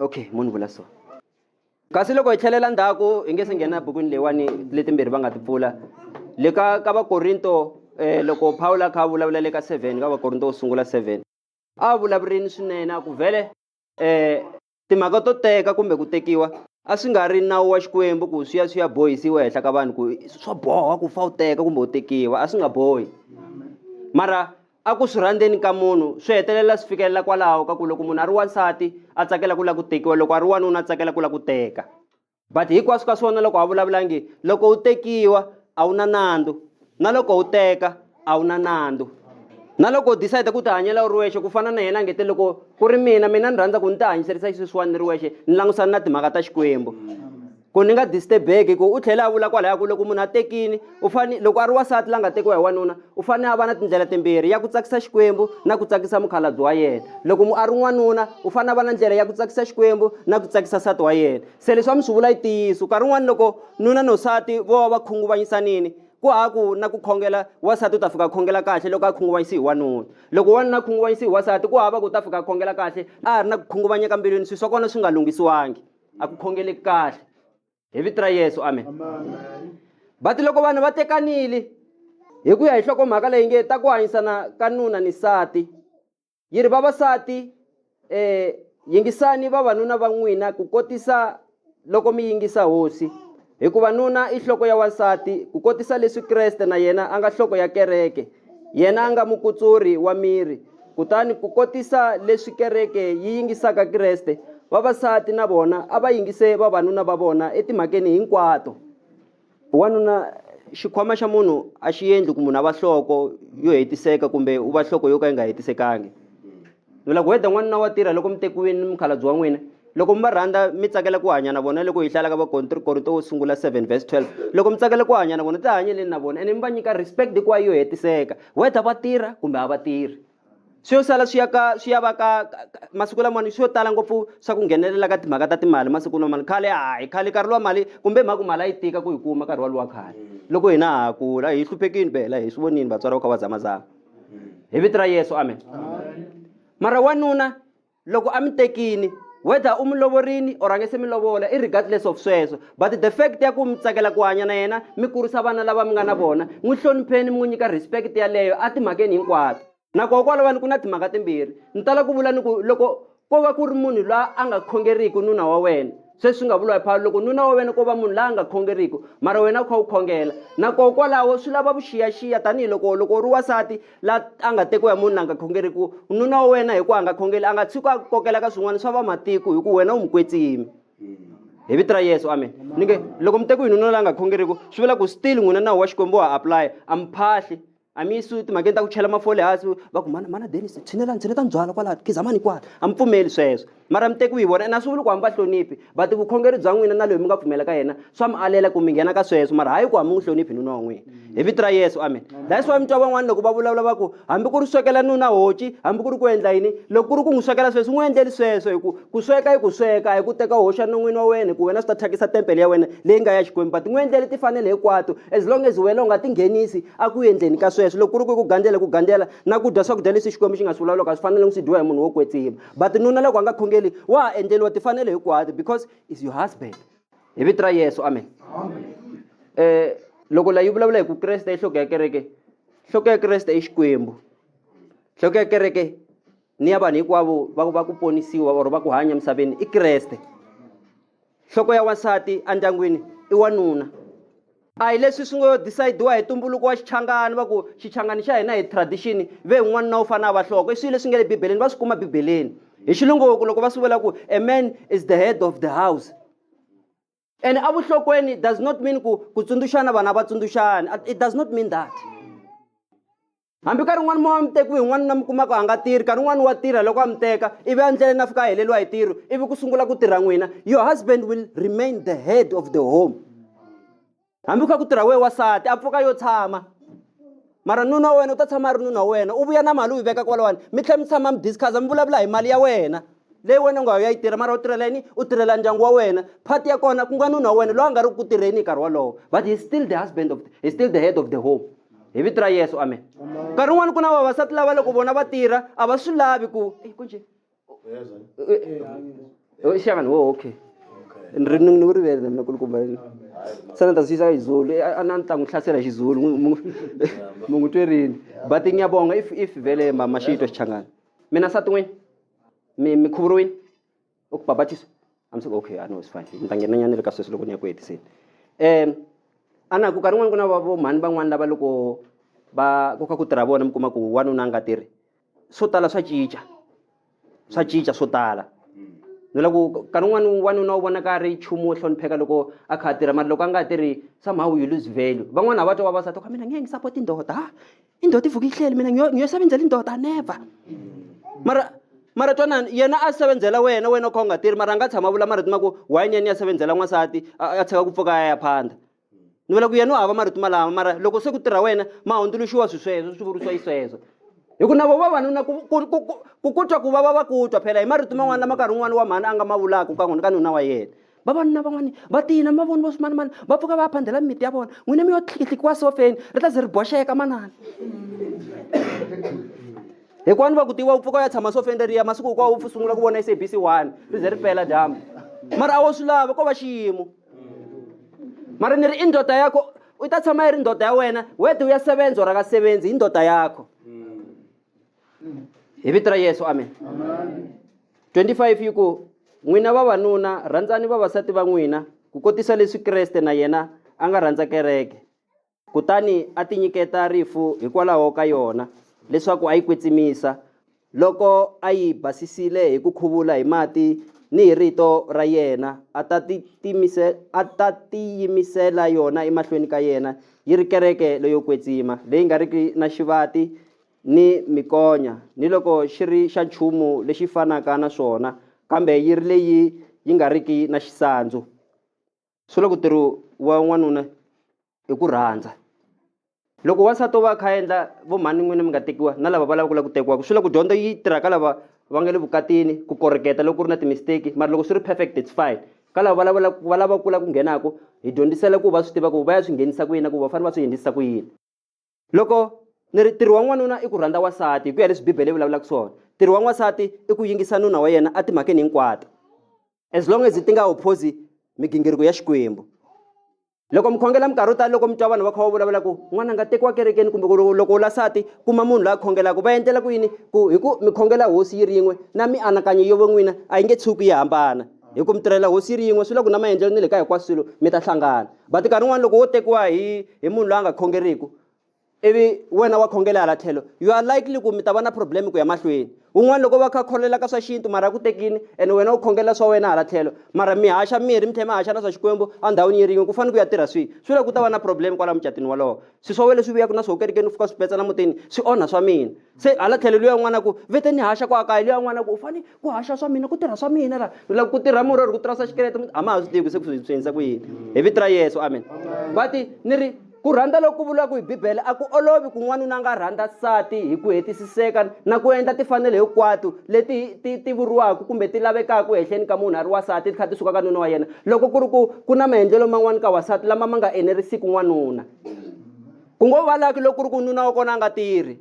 okay munhu vula so kasi loko hi tlhelela ndzhaku hi nge se nghena bukwini leyiwani letimbirhi va nga ti pfula le ka ka vakorinto um loko pawulo a kha a vulavula le ka seven ka vakorinto wo sungula seven a vulavurini swinene a ku vhele um timhaka to teka kumbe ku tekiwa a swi nga ri nawu wa xikwembu ku swi ya swi ya bohisiwa ehenhla ka vanhu ku swa boha ku fa u teka kumbe u tekiwa a swi nga bohi mara A ku swi rhandzeni ka munhu swi hetelela swi fikelela kwalaho ka ku loko munhu a ri wansati a tsakela ku lava ku tekiwa loko a ri wanuna a tsakela ku lava ku teka but hinkwaswo ka swona loko a vulavula nge loko u tekiwa a wu na nandzu na loko u teka a wu na nandzu na loko u decide ku tihanyela u ri wexe ku fana na yena ngete loko ku ri mina mina ni rhandza ku ni tihanyiserisa xisweswiwani ni ri wexe ni langutisana na timhaka ta xikwembu ku ni nga disturb-eki ku u tlhele a vula kwalaya ku loko munhu a tekini u fane loko a ri wasati la nga tekiwa hi wanuna u fanele a va na tindlela timbirhi ya ku tsakisa xikwembu na ku tsakisa mukhalabye wa yena loko mu a ri n'wanuna u fanele a va na ndlela ya ku tsakisa xikwembu na ku tsakisa nsati wa yena se leswi a mi swi vula yi ntiyiso nkarhi wun'wana loko nuna nosati vo va va khunguvanyisanini ku ha ku na ku khongela wasati u ta fika a khongela kahle loko a khunguvanyisi hi wanuna loko wanuna a khunguvanyisi hi wasati ku hava ku u ta fika a khongela kahle a ha ri na ku khunguvanyeka mbilwini swilo swa kona swi nga lunghisiwangi a ku khongeleki kahle hi vito ra yesu amen va ti loko vanhu va tekanile hi ku ya hi hlokomhaka leyi nge ta ku hanyisana ka nuna ni sati yi ri vavasati um yingisani vavanuna va n'wina ku kotisa loko mi yingisa hosi hikuva nuna i nhloko ya wansati ku kotisa leswi kreste na yena a nga nhloko ya kereke Yena a nga mukutsuri wa miri. Kutani ku kotisa leswi kereke yi yingisaka Kreste, vavasati na vona a va yingise vavanuna va vona etimhakeni hinkwato. Wanuna, xikhwama xa munhu a xi endli ku munhu a va nhloko yo hetiseka kumbe u va nhloko yo ka yi nga hetisekangi. mi la ku heta n'wanuna wa tirha loko mi tekiwini ni mukhalabye wa n'wina loko mi va rhandza mi tsakela ku hanya na vona loko hi hlaya ka vakorinto wo sungula 7 vs 12 loko mi tsakela ku hanya na vona tihanyeleni na vona ene mi va nyika respect hikuva yo hetiseka whether va tirha kumbe a va tirhi swi yo sala swi ya ka swi ya va ka masiku lamawani swi yo tala ngopfu swa ku nghenelela ka timhaka ta timali masiku lamawani khale hayi khale nkarhi lowa mali kumbe mhaka mali a yi tika ku yi kuma nkarhi walowa khale loko hina ha kula hi hluphekini phela hi swi vonini vatswari va kha va zamazama hi vito ra yesu amen mara wanuna loko a mi tekini whether u mi lovorini or a nge se mi lovola i regardless of sweswo but the fact ya ku mi tsakela ku hanya na yena mi kurisa vana lava mi nga na vona n'wi hlonipheni mi n'wi nyika respect yaleyo a timhakeni hinkwato nakona kwalawani ku na timhaka timbirhi ni tala ku vula ni ku loko Ko va ku ri munhu la a nga khongeriki nuna wa wena. Se swi nga vuriwa hi Pawulo loko nuna wa wena ko va munhu la a nga khongeriki, mara wena u kha u khongela. Na koho kwalaho swi lava vuxiyaxiya tanihi loko loko u ri wansati la a nga tekiwa hi munhu la nga khongeriki, nuna wa wena hi ku a nga khongeli a nga tshuki a ku kokela ka swin'wana swa vamatiko hi ku wena u mu kwetsimi. Hi vito ra Yesu, amen. Ni nge loko mi tekiwe hi nuna la nga khongeriki swi vula ku still n'wina nawu wa Xikwembu wa ha apply-a, a mi phahli. a mi su timhakeni ta ku chela mafole hansi va ku mana mana denis tshinelani tshine ta ndzwala kwalaha khizamani kwala a mi pfumeli sweswo mara mi tekiwi hi vona ene a swi vuli ku hami va hloniphi but vukhongeri bya n'wina na loyi mi nga pfumela ka yena swa mi alela ku mi nghena ka sweswo mara hayi ku hami n'wi hloniphi nuna wa n'wina hi vito ra yesu amen that's why mi twa van'wana loko va vulavula va ku hambi ku ri swekela nuna hoci hambi ku ri ku endla yini loko ku ri ku n'wi swekela sweswo n'wi endleli sweswo hi ku Ku sweka i ku sweka, hi ku teka u hoxa non'wini wa wena, ku wena swi ta thyakisa tempele ya wena leyi nga ya Xikwembu. But n'wi endlele tifanele hinkwato, as long as wena u nga tinghenisi a ku endleni ka sweswo. Loko ku ri ku i ku gandzela i ku gandzela, na ku dya swakudya leswi Xikwembu xi nga swi vulavulaka a swi fanelangi swi dyiwa hi munhu wo kwetsima. But nuna loko a nga khongeli, wa ha endleriwa tifanele hinkwato because is your husband. Hi vito ra Yesu, amen. Eh, loko la yi vulavula hi ku Kreste i nhloko ya kereke, nhloko ya Kreste i Xikwembu, nhloko ya kereke ni ya vanhu hinkwavo va va ku ponisiwa or va ku hanya emisaveni i kreste nhloko ya wansati endyangwini i wanuna a hi leswi swi ngo decidiwa hi tumbuluko wa xichangani va ku xichangani xa hina hi tradition ve un'wana na u fane a va hloko i swilo leswi nge le bibeleni va swi kuma bibeleni hi xilungu ku loko va swi vula ku a man is the head of the house ene evuhlokweni it does not mean ku ku tsundzuxana vanhu a va tsundzuxani it does not mean that hambi nkarhi un'wana mo wa mi tekiwi un'wana na mi kumaka a nga tirhi nkarhi un'wana wa tirha loko a mi teka ivi endleleni a fika a heleriwa hi tirho ivi ku sungula ku tirha n'wina your husband will remain the head of the home hambi ku kha ku tirha wehe wasati a pfuka yo tshama mara nuna wa wena u ta tshama a ri nuna wa wena u vuya na mali u yi veka kwalawani mi tlhela mi tshama mi discussa mi vulavula hi mali ya wena leyi wena u nga ya yi tirha mara u tirhela yini u tirhela ndyangu wa wena phati ya kona ku nga nuna wa wena loyi a nga ri ku tirheni hi nkarhi wolowo but he still the husband of he still the head of the home hi vito ra yesu amen nkarhi wun'wani ku na vavasati lava loko vona va tirha a va swi lavi ku ku njhe shaka ni wo okay ni ri ni ku rivele na mina kulukumba se ni ta swi yisa xizulu eh, a ni ta n'wi hlasela xizulu mu n'wi twerini but ngiyabonga if if vele mama xi yitwa xichangana mina sati n'wini mi mi khuvuriwini u ku babatisa I'm so okay, I know it's fine. Ni ta nghena nyana le ka sweswi loko ni ya ku hetiseni. Um a na ku ka rin'wana ku na va vo mhani van'wana lava loko va koka ku tirha vona mi kuma ku wanuna a nga tirhi swo tala swa cinca swa cinca swo tala ni lava ku ka rin'wana wanuna u vonaka a ri nchumu wo hlonipheka loko a kha a tirha mara loko a nga ha tirhi somehow you lose value van'wana a va twa vavasati ka mina nge ngi sapoti ndoda ha i ndoda i vuke ihleli mina ngiyo ngiyo sebenzela indoda never mara mara twanani yena a sebenzela wena wena u kha u nga tirhi mara a nga tshama vula mara tima ku why ni ya ni ya sebenzela n'wansati a tshika ku pfuka a ya phanda ni vula ku yena u hava marito malama mara loko se ku tirha wena ma hundzuluxiwa swi sweswo swi vurisiwa yi sweswo hi ku na vo vavanuna ku ku twa ku va va va ku twa phela hi marito man'wana lama nkarhi un'wana wa mhani a nga ma vulaka ka n'wina ka nuna wa yena vavanuna van'wana va tiyina mavoni vo swimanimani va pfuka va ya phandela mimiti ya vona n'wina mi yo tlhikihlikiwa sofeni ri ta ze ri boxeka manana hikuva ni va ku tiwa u pfuka u ya tshama sofeni reriya masiku hinkwawo u sungula ku vona sabc one ri ze ri pela dyambu mara a wo swi lava ko va xiyimo mara ni ri i ndoda ya ko u ta tshama yi ri ndoda ya wena wede u ya sevenzi or aka sevenzi hi ndoda yakho hi vito ra yesu amen 25 yi ku n'wina vavanuna rhandzani vavasati va n'wina ku kotisa leswi kreste na yena a nga rhandza kereke Kutani a tinyiketa rifu hikwalaho ka yona, leswaku a yi kwetsimisa, loko a yi basisile hi ku khuvula hi mati ni hi rito ra yena, a ta a ta tiyimisela yona emahlweni ka yena yi ri kereke leyo kwetsima, leyi nga riki na xivati ni mikonya, niloko xi ri xa nchumu lexi fanaka na swona, kambe yi ri leyi yi nga riki na xisandzu. swi vula ku ntirho wa n'wanuna hi ku rhandza loko wansati o va a kha a endla vo mhani n'wina mi nga tekiwa na lava va lava ku lava ku tekiwaka swi vula ku dyondzo yi tirha ka lava va nga le vukatini ku koreketa loko ku ri na ti-mistake mara loko swi ri perfect it's fine ka lava va lavela va lava kula ku nghenaka hi dyondzisela ku va swi tiva ku va ya swi nghenisa ku yini na ku va fanele va swi endlisa ku yini loko ni ri ntirho wa n'wanuna i ku rhandza wasati hi ku ya leswi bibele yi vulavulaka swona ntirho wa n'wasati i ku yingisa nuna wa yena a timhakeni hinkwato as long as ti nga opposi migingiriko ya xikwembu loko mi khongela minkarhi yo tala loko mi twa vanhu va kha va vulavula ku n'wana nga tekiwa kerekeni kumbe ku loko u lasati kuma munhu loyi a khongelaka va endlela ku yini ku hi ku mi khongela hosi yi ri yin'we na mianakanyo yo van'wina a yi nge tshuki yi hambana hi ku mi tirhela hosi yi ri yin'we swi la ku na maendlelo ni le ka hinkwaswo swilo mi ta hlangana But nkarhi wun'wana loko wo tekiwa hi hi munhu loyi a nga khongeriki ivi wena wa khongela hala tlhelo you are likely ku mi ta va na problem ku ya mahlweni un'wana loko va kha khongelela ka swa xintu mara ku tekini and wena u khongela swa wena hala tlhelo mara mi haxa mirhi mi tlhela mi haxa na swa xikwembu endhawini yi rin'we ku fanele ku ya tirha swihi swi la ku ta va na problem kwala mucatwini wolowo swi swa wena leswi vuyaka na swo kerekeni u fika swi petsana mutini swi onha swa mina se hala tlhelo luya n'wana ku vete ni haxa kwa kaya luya n'wana ku u fane ku haxa swa mina ku tirha swa mina la loko ku tirha murhi or ku tirhisa xikerete a ma ha swi tivi se ku swi endlisa ku yini hi vito ra yesu amen va ti ni ri ku rhandza loku vuriwaka hi bibele a ku olovi ku n'wanuna nga rhandza nsati hi ku hetisiseka na ku endla tifanele hinkwato leti ti ti vuriwaka kumbe ti lavekaka ehenhleni ka munhu a ri wasati ti kha ti suka ka nuna wa yena Loko ku ri ku ku na maendlelo man'wana ka wansati lama ma nga enerisiki n'wanuna ku ngo va laki loko ku ri ku nuna wa kona a nga tirhi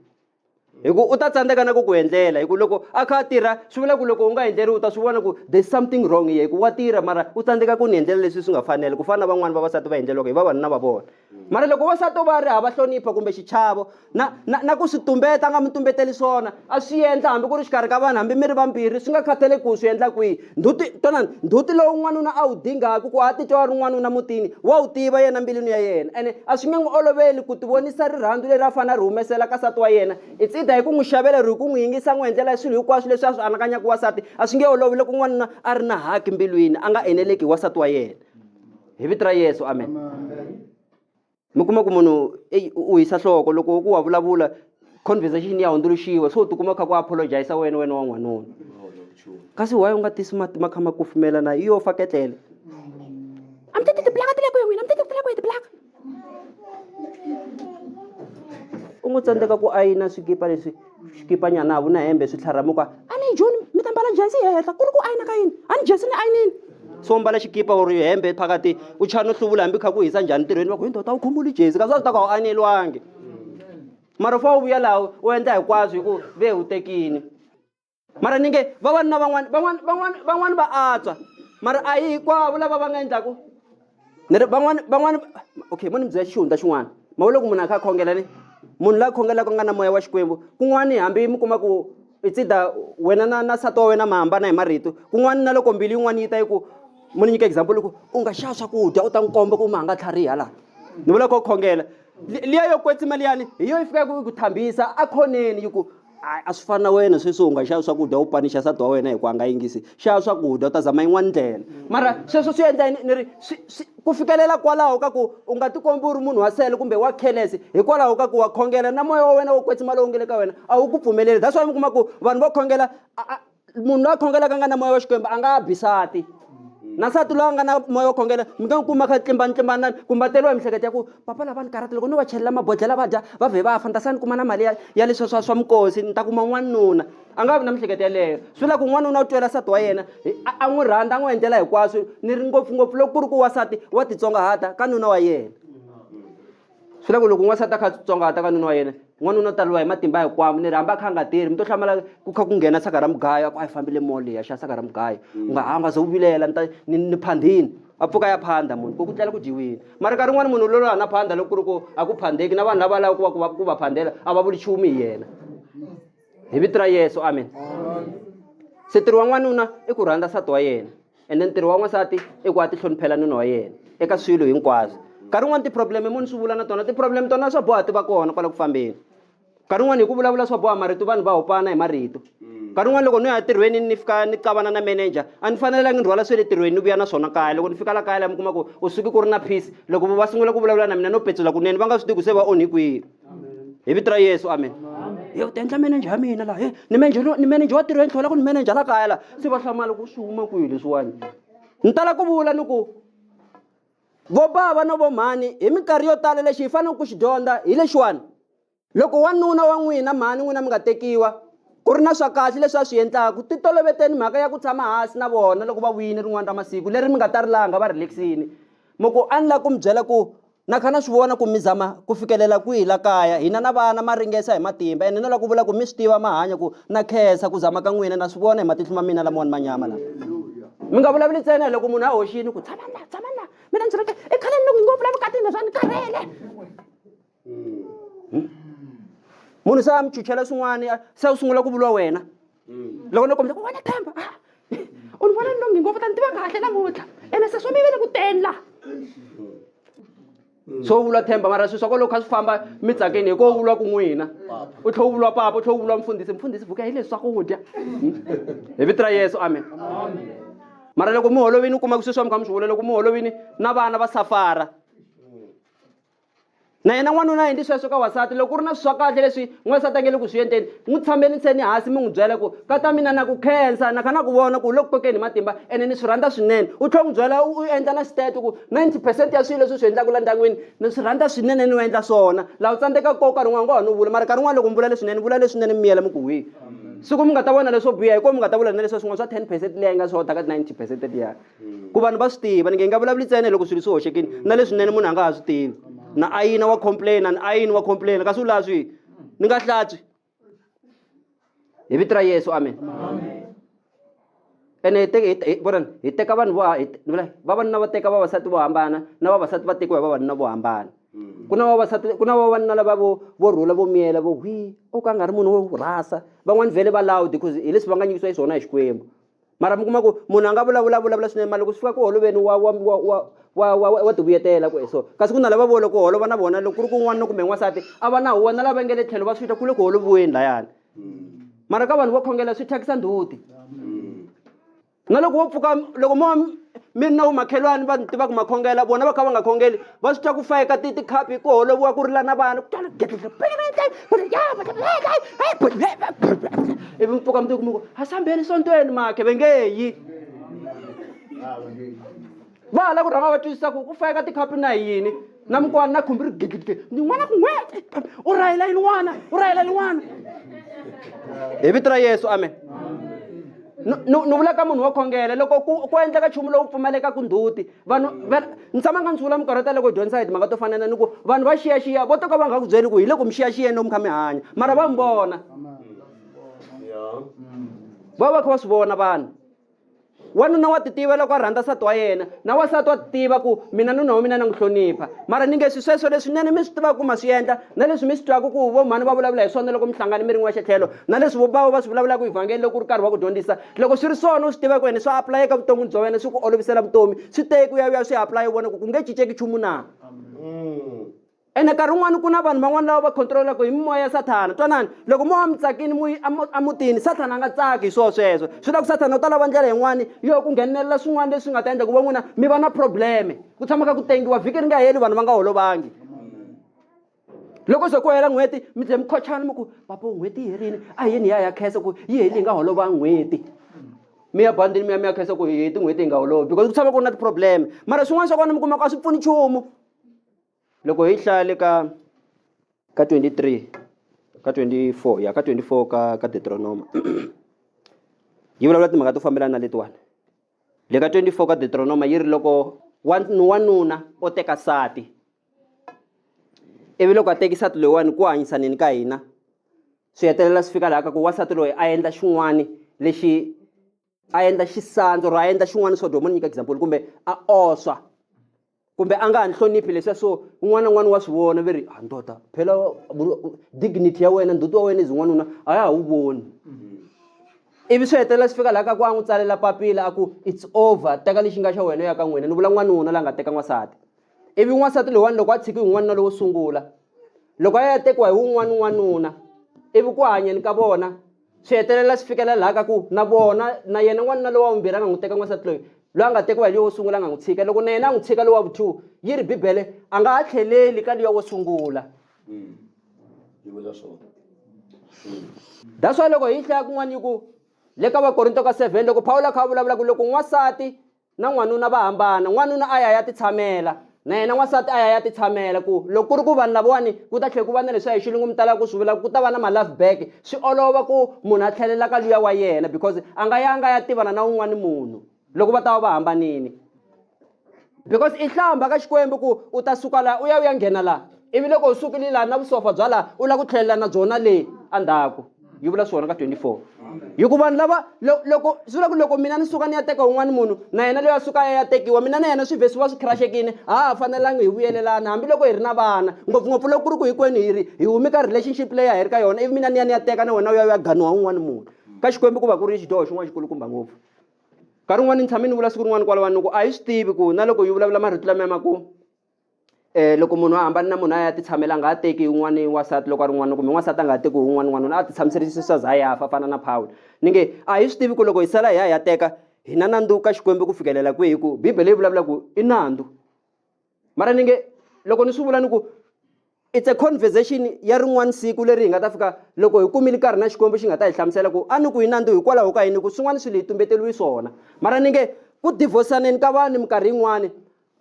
hi ku u ta tsandzeka na ku ku endlela hi ku loko a kha a tirha swi vula ku loko u nga endleriwi u ta swi vona ku there's something wrong here hi ku wa tirha mara u tsandzeka ku ni endlela leswi swi nga fanela ku fana na van'wani vavasati va endleriwaka hi vavanuna va vona mara loko wansati o va ri hava hlonipho kumbe xichavo na na na ku swi tumbeta a nga mi tumbeteli swona a swi endla hambi ku ri xikarhi ka vanhu hambi mi ri vambirhi swi nga khathali ku swi endla kwihi nduti tonani nduti lowu n'wanuna a wu dingaka ku a titwa a ri n'wanuna mutini wa wu tiva yena mbilwini ya yena ene a swi nge n'wi oloveli ku tivonisa rirhandzu leri a fanele a ri humesela ka sati wa yena it's either hi ku n'wi xavela ri hi ku n'wi yingisa n'wi endlela swilo hinkwaswo leswi a swi anakanyaka wasati a swi nge olovi loko n'wanuna a ri na haki mbilwini a nga eneleki hi wasati wa yena hi vito ra yesu amen mi kuma ku munhu eyi u hisa nhloko loko ku wa vulavula conversation ya hundzuluxiwa so u tikuma kha ku apologisa wena wena wa n'wanuna kasi why u nga tisi mati ma kha ma kufumela na iyo fa ketlele a mi tati tiblaka ti le kwihi n'wina mi tati ku ti le kwihi tiblaka u ngo tsandzeka ku ayina swikipa leswi xikipanyana a ku na hembe swi tlharhamuka a ni joni mi ta mbala jensi hi henhla ku ri ku ayina ka yini a ni jensi ni ayinini so mbala xikipa or hembe phakati u chaya no hluvula hambi kha ku hisa njhani ntirhweni va ku hi ndoda u khumuli jezi kasi a swi ta ku a wu aneliwangi mara u fanele u vuya laha u endla hinkwaswo hi ku ve u tekini mara ni nge vavanuna van'wana van'wana van'wana van'wana va antswa mara a yi hinkwavo lava va nga endlaku ni ri van'wana van'wana okay mo ni mi byela xihundla xin'wana ma wu loko munhu a kha a khongela ni munhu la khongelaka nga na moya wa xikwembu kun'wani hambi mi kuma ku itsida wena na na sati wa wena ma hambana hi marito kun'wani na loko mbilu yin'wani yi ta yi ku mo ni nyika example loko u nga xava swakudya u ta n'wi komba ku ma nga tlhariha laha ni vula kho khongela liya yo kwetsima liyani hi yo yi fikaku yi ku thambisa a khoneni yi ku Ai, a swi fani na wena sweswi u nga xava swakudya u panixa nsati wa wena hi ku a nga yingisi xava swakudya u ta zama yin'wana ndlela mara sweswo swi endla ni ri ku fikelela kwalaho ka ku u nga tikombi u ri munhu wa sele kumbe wa khelesi hikwalaho ka ku wa khongela na moya wa wena wo kwetsima lowu nge le ka wena a wu ku pfumeleli that's why mi kuma ku vanhu vo khongela a munhu loyi a khongelaka a nga na moya wa xikwembu a nga bi sati na nsati loyi a nga na moya wo khongela mi nga n'wi kuma kha tlimbanitlimbanani kumbe a teriwa hi mihleketo ya ku papa lava ni karhata loko no va chelela mabodlhela va dya va vhe va fa ni ta sa ni kuma na mali ya ya leswa swa swa minkosi ni ta kuma n'wanuna a nga vi na mihleketo yeleyo swi vula ku n'wanuna u twela nsati wa yena a n'wi rhandza a n'wi endlela hinkwaswo ni ri ngopfungopfu loko ku ri ku wasati wa titsongahata ka nuna wa yena swi la ku loko n'wansati a kha tsongahata ka nuna wa yena n'wanuna u ta lwa hi matimba hikwamo ni ri hambi a kha a nga tirhi mi to hlamala ku kha ku nghena saka ra mugayo a ku a yi fambile mall leyi ya xa saka ra mugayo mm. u nga ha nga ze u vilela ni ta ni ni phandhini a pfuka ya phanda munhu ko ku tlela ku dyiwile mara nkarhi n'wana munhu lolo hana phanda loko ku ri ku a ku phandeki na vanhu lava lava ku va ku va ku va phandela a va vuli chumu hi yena hi vito ra yesu amen se ntirho wa n'wanuna i ku rhandza nsati wa yena ende ntirho wa n'wansati i ku a ti hloniphela nuna wa yena eka swilo hinkwaswo nkarhi wun'wani ti-problem moni swi vula na tona ti-problem tona swa boha ti va kona kwala ku fambeni nkarhi wun'wani hi ku vulavula swa boha marito vanhu va hopana hi marito nkarhi wun'wani loko ni ya tirhweni ni fika ni cavana na manager a ni fanelangi ni rhwala swe le tirhweni ni vuya na swona kaya loko ni fika la kaya la mi kuma ku u suki ku ri na peace loko va sungula ku vulavula na mina no petsula kunene va nga swi tivi ku se va onhi kwihi hi vito ra yesu amen ye u ta endla manager ya mina laha e ni manager ni manager wa tirhweni tlhela ku ni manager la kaya laha se va hlamala ku swi huma kwihi leswiwani ni tala ku vula ni ku vo bava no vo mhani hi minkarhi yo tala lexi hi faneleke ku xi dyondza hi lexiwani loko wanuna wa n'wina mhani n'wina mi nga tekiwa ku ri na swa kahle leswi a swi endlaku ti toloveteni mhaka ya ku tshama hansi na vona loko va vuyini rin'wana ra masiku leri mi nga ta rilanga va relaxini mo ku a ni lava ku mi byela ku Na kha na swi vona ku mi zama ku fikelela kwihi la kaya. Hina na vana ma ringesa hi matimba ene no la ku vula ku mi swi tiva ma hanya ku na khensa ku zama ka n'wina na swi vona hi matihlo ma mina lamawani ma nyama lama. Mi nga vulavuli ntsena hi loko munhu a hoxini ku tshama la tshama la mina ndzi ri i khale ni loko ngopfu la vukatini leswa ni karhele. Munhu se a mi chuchela swin'wani se u sungula ku vuriwa wena. mm. loko no kombisa ku wena themba ah, u ni vona nongi ngopfu ta ni tiva kahle namuntlha ene se swo mi vele ku teni laha mm. swo vulwa themba mara swi swa ko loko kha swi famba mi tsakeni hi ko vulwa ku n'wina u tlhe u vulwa papa u tlhe u vulwa mfundhisi mfundhisi vuka hi leswi swakudya hmm? hi vito ra yesu amen mara loko mi holovini u kuma ku sweswi wa mi kha mi swi vula loko mi holovini na vana va safara na yena n'wanuna a endli sweswo ka wasati loko ku ri na swi swa kahle leswi n'wansati a nge le ku swi endleni n'wi tshameliseni hansi mi n'wi byela ku ka ta mina na ku khensa na kha na ku vona ku u le ku kokeni hi matimba ene ni swi rhandza swinene u tlhela n'wi byela u endla na xiteto ku ninety percent ya swilo leswi swi endlaka la ndyangwini ni swi rhandza swinene ni u endla swona laha u tsandzeka koko nkarhi un'wana ngo ha no vula mara nkarhi un'wana loko mi vula leswinene vula leswinene mi miyela mi ku hwi siku mi nga ta vona leswo biha hi kona mi nga ta vula na leswa swin'wana swa ten percent leyi nga swi hodaka ninety percent liya ku vanhu va swi tiva ni nge nga vulavuli ntsena loko swilo swi hoxekile na leswinene munhu a nga ha swi tivi na ayina wa complain ni ayini wa complain kasi u laha swihi ni nga hlatswi hi vito ra yesu amen ene vonani hi teka vanhu vo vavanuna va teka vavasati vo hambana na vavasati va tekiwa hi vavanuna vo hambana mm. ku na vavasati ku na vavanuna lava vo vo rhula vo miyela vo hwi o ka nga ri munhu wo rhasa van'wani vhele va loud because hi leswi va nga nyikisiwa hi swona hi xikwembu mara mi kuma ku munhu a nga vulavula vulavula swinene mara loko swi fika ku holoveni wa wa wa wa wa wa wa tivuyetela ku so kasi ku na lava vo loko holova na vona loko ku ri ku n'wanuna kumbe n'wansati a va na huwa na lava nge le tlhelo va swi ta ku le ku holoviweni layani mara ka vanhu vo khongela swi thyakisa ndzhuti na loko wo pfuka loko mo mi ri na vamakhelwani va tiva ku makhongela vona va kha va nga khongeli va swi twa ku fayeka ti tikhapi ku holoviwa ku rila na vana ivi mpfuka mundzuku muku ha sambheni sontweni makhe ve nge yi va ha la ku rhanga va twisisa ku ku fayeka tikhapi na yini na mukwana na khumbi ri gidlidle ni n'wana ku n'we u rhayela yini n'wana u rhayela yini n'wana hi vito ra yesu amen ni vula ka munhu wo khongela loko ku ku endleka nchumu lowu pfumalekaku ndzhuti vanhu ni tshama nga ni sungula minkarhi yo tala ku dyondzisa hi timhaka to fanana ni ku vanhu va xiyaxiya vo to ka va nga ku byeli ku hi le ku mi xiyaxiyeni lomu kha mi hanya mara va mi vona va va kha va swi vona vanhu wanuna wa titiva loko a rhandza nsati wa yena na wasati wa titiva ku mina nuna wa mina na n'wi hlonipha mara ni nge swi sweswo leswinene mi swi tivaka ku ma swi endla na leswi mi swi twaka ku vo mhani va vulavula hi swona loko mi hlangane mi ri n'wexe tlhelo na leswi vobavo va swi vulavulaka evhangeli loko u ri karhi va ku dyondzisa loko swi ri swona u swi tiva ku ene swa apulayeka vuton'wini bya wena swi ku olovisela vutomi swi teki u ya u ya swi aplaya u vona ku ku nge cinceki nchumu na ene nkarhi wun'wani ku na vanhu van'wana lava va controlaka hi mimoya ya sathana twanani loko mo wa mi tsakini mu yi emutini sathana a nga tsaki hi swona sweswo swi la ku sathana u ta lava ndlela yin'wani yo ku nghenelela swin'wana leswi nga ta endla ku va n'wina mi va na probleme ku tshama ka ku tengiwa vhiki ri nga heli vanhu va nga holovangi loko se ku hela n'hweti mi tlhe mi khochana mi ku papo n'hweti yi herile a hi yeni hi ya ya khensa ku yi heli hi nga holova n'hweti mi ya bandini mi ya mi ya khensa ku hi heti n'hweti hi nga holovi because ku tshama ku ri na ti-problem mara swin'wana swa kona mi kuma ku a swi pfuni nchumu loko hi hlaya le ka ka 23 ka 24 ya ka 24 ka ka deuteronoma yi vulavula timhaka to fambelana na letiwani le ka 24 ka deuteronoma yi ri loko wanuna o teka sati ivi loko a teki sati loyiwani ku hanyisanini ka hina swi hetelela swi fika laha ka ku wasati loyi a endla xin'wani lexi a endla xisandzu or a endla xin'wani swo dyo mo ni nyika example kumbe a oswa kumbe a nga ha nhloniphi leswiya so un'wana na un'wana wa swi vona ve ri ha ah, ndoda phela dignity ya wena ndzhuti wa wena izi n'wanuna a ya ha wu voni mm-hmm. ivi swi hetelela swi fika laha ka ku a n'wi tsalela papila a ku it's over teka lexi nga xa wena ya ka n'wina ni vula n'wanuna la nga teka n'wansati ivi n'wansati loyiwani loko a tshiki hi n'wanuna lowo sungula loko a ya tekiwa hi wun'wana n'wanuna ivi ku hanyeni ka vona swi hetelela swi fikelela laha ka ku na vona na yena n'wanuna lowa vumbirhi a nga n'wi teka n'wansati loyi loyi a nga tekiwa hi loyi wo sungula a nga n'wi tshika loko na yena a n'wi tshika lowa vu-two yi ri bibele a nga ha tlheleli ka luya wo sungula mm. yi vula swona that's why loko hi hlaya kun'wana yi ku le ka vakorinto ka seven loko pawulo a kha a vulavula ku loko n'wansati na n'wanuna va hambana n'wanuna a ya ya titshamela na yena n'wansati a ya ya titshamela ku loko ku ri ku vanhu lavawani ku ta tlhela ku va na leswi hi xilungu mi talaka ku swi vula ku ta va na ma-love back swi olova ku munhu a tlhelela ka luya wa yena because a nga ya a nga ya tivana na wun'wani munhu loko va ta va va hambanini because i hlamba ka xikwembu ku u ta suka laha u ya u ya nghena laha ivi loko u sukile laha na vusopfa bya laha u lava ku tlhelela na byona le endzhaku yi vula swona ka 24 hikuva vanhu lava loko swi vula ku loko mina ni suka ni ya teka un'wana munhu na yena loyi a suka ya tekiwa mina na yena swivhesi va swi khiraxekini a ha fanelanga hi vuyelelana hambiloko hi ri na vana ngopfungopfu loko ku ri ku hinkwenu hi ri hi humi ka relationship leyi a hi ri ka yona ivi mina ni ya ni ya teka na wena u ya u ya ganiwa un'wana munhu ka xikwembu ku va ku ri xidyoho xin'wana xikulukumba ngopfu nkarhi wun'wana ni tshame ni vula siku rin'wana kwalawani loko a hi swi tivi ku na loko yi vulavula marito lama ya makumu Eh, loko munhu a hambani na munhu a ya ti tshamela a nga ha teki un'wana wansati loko a ri n'wana kumbe n'wansati a nga ha teki un'wana n'wanuna a ti tshamiserisisa swa za ya fa fana na phawula ni nge a hi swi tivi ku loko hi sala hi ya hi ya teka hi na nandzu ka xikwembu ku fikelela kwihi ku bibele yi vulavula ku i nandzu mara ni nge loko ni swi vula ni ku It's a conversation ya rin'wana siku leri hi nga ta fika loko hi kumile nkarhi na Xikwembu xi nga ta hi hlamusela ku a ni ku yi nandzu hikwalaho ka yini ku swin'wana swilo hi tumbeteriwe swona mara ni nge ku divorsaneni ka vanhu minkarhi yin'wani